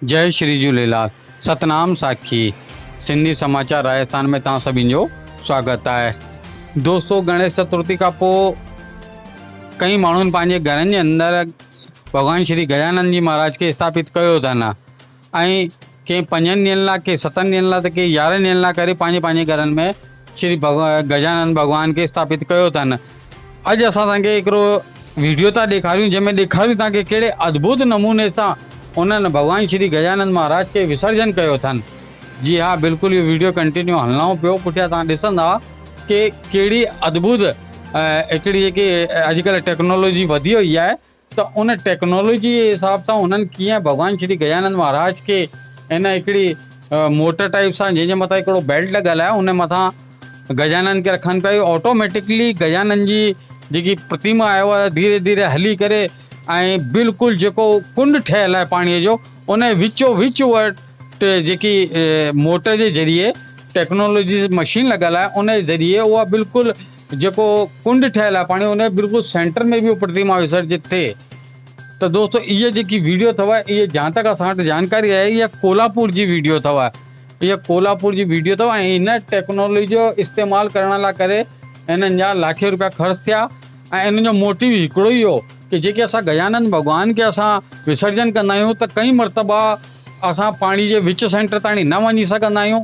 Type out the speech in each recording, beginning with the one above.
جئي شري جهوليلال ستنام ساکي سنڌي سماچار راجستان ۾ توهان سڀين جو سواگت آهي دوستو گڻيش چترتي کان پوء ڪئين ماڻهن پنهنجي گهرن جي اندر ڀڳوان شري گجانند جي مهاراج کي اسٿاپت ڪيو اٿن ۽ ڪي پنجن ڏينهن لا، ڪي ستن ڏينهن لا ته ڪي يارنهن ڏينهن لا ڪري پنهنجي پنهنجي گهرن ۾ شري گجانند ڀڳوان کي اسٿاپت ڪيو اٿن. اڄ اسان توهان کي هڪڙو ويڊيو ٿا ڏيکاريون جنهن ۾ ڏيکاريون ٿا ڪي ڪهڙي ادڀت نموني سان انهن ڀڳوان شري گجانند مهاراج کي وسرجن ڪيو اٿن. جي ها بلڪل اهو ويڊيو ڪنٽينيو هلنائون پيو پٺيان توهان ڏسندا ڪي ڪهڙي ادڀت هڪڙي جيڪي اڄ ڪلهه ٽيڪنالاجي وڌي وئي آهي ته ان ٽيڪنالاجيء جي حساب سان انهن ڪيئن ڀڳوان شري گجانند مهاراج کي ان هڪڙي موٽر ٽائيپ سان جنهن جي مٿان هڪڙو بيلٽ لڳل آهي ان مٿان گجانند کي رکن پيا اهو آٽوميٽڪلي گجانند جي جيڪي پرتيما آهي اها ڌيري ڌيري هلي ڪري ۽ بلڪل جيڪو ڪنڊ ٺهيل آهي پاڻيء جو ان جي وچو وچ اها جيڪي موٽر جي ذريعي ٽيڪنالاجي مشين لڳل آهي ان جي ذريعي اها بلڪل جيڪو ڪنڊ ٺهيل آهي پاڻي ان جي بلڪل سينٽر ۾ به پرتيما وسرجت ٿئي ته دوستو اهي جيڪي ويڊيو اٿو اهي جهان تڪ اسان وٽ جانڪاري آهي اها ڪولهاپور جي ويڊيو اٿو اها ڪولهاپور جي ويڊيو اٿو ۽ ان ٽيڪنالوجي جو استعمال ڪرڻ لاء ڪري انهن جا لاکين روپيا خرچ ٿيا ۽ انهن جو موٽيو هڪڙو ئي هو ته جيڪي اسان گجانند ڀڳوان کي اسان وسرجن ڪندا آهيون ته ڪئين مرتبا اسان پاڻي جي وچ سينٽر تائڻي نه وڃي سگهندا آهيون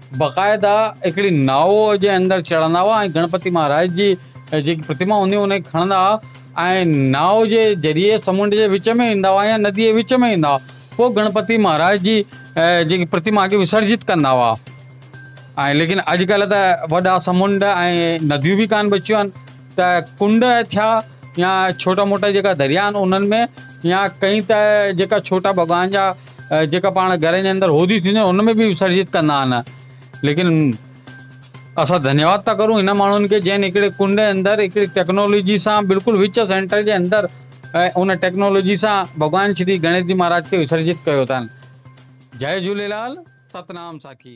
باقاعده هڪڙي ناء جي اندر چڙهندا هئا ۽ گڻپتي مهاراج جي جيڪي پرتما هونديون هئيون انهن کي کڻندا هئا ۽ ناء جي ذريعي سمنڊ جي وچ ۾ ايندا هئا يا نديء جي وچ ۾ ايندا هئا پوء گڻپتي مهاراج جي جيڪي پرتما کي وسرجت ڪندا هئا ۽ ليڪن اڄڪلهه ته وڏا سمنڊ ۽ نديون به ڪانه بچيون آهن ته ڪنڊ ٿيا يا ڇوٽا موٽا جيڪا دريا آهن انهن ۾ يا ڪئين ته جيڪا ڇوٽا ڀڳوان جا جيڪا پاڻ گهرن جي اندر هوديون ٿينديون آهن ان ۾ به وسرجت ڪندا آهن ليڪن اسان ڌنيواد ٿا ڪرون هن ماڻهن کي جن هڪڙي ڪنڊ جي اندر هڪڙي ٽيڪنالاجي سان بلڪل وچ سينٽر جي اندر ان ٽيڪنالاجي سان ڀڳوان شري گڻيش جي مهاراج کي وسرجت ڪيو اٿن جي جهوليلال ستنام ساکي